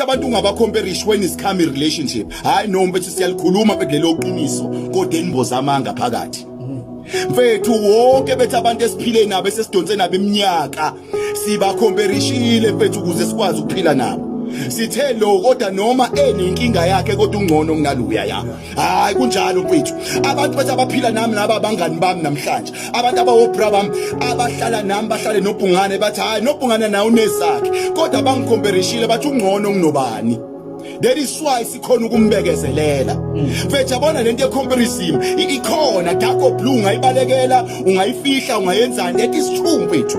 abantu ungabacomperish when is come relationship hayi no mfethu siyalikhuluma mfethu lelo qiniso kodwa enimboza amanga phakathi mfethu wonke bethu abantu esiphile nabo esesidonse nabo iminyaka sibakhomperishile mfethu ukuze sikwazi ukuphila nabo sithe lo kodwa noma enenkinga yakhe kodwa ungcono kunaloya yakho hayi kunjalo mfethu abantu bathi abaphila nami naba abangani bami namhlanje abantu abawobra bami abahlala nami bahlale nobhungane bathi hayi nobhungane naye unezakhe kodwa bangikhomperishile bathi ungcono kunobani that is why sikhona ukumbekezelela mfethu yabona lento yecomparison ikhona dark or blue ungayibalekela ungayifihla ungayenzani that is true mfethu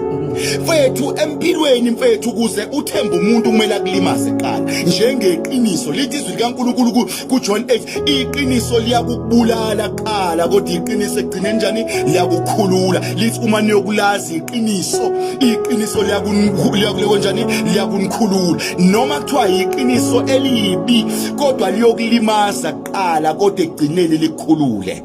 mfethu empilweni mfethu ukuze uthembe umuntu kumele akulimaze qala njengeqiniso lithi izwi likaNkulunkulu kuJohn 8 iqiniso liyakubulala qala kodwa iqiniso egcine njani liyakukhulula lithi uma niyokulazi iqiniso iqiniso liyakukhulula njani liyakunikhulula noma kuthiwa iqiniso elibi kodwa liyokulimaza qala kodwa egcineni likhulule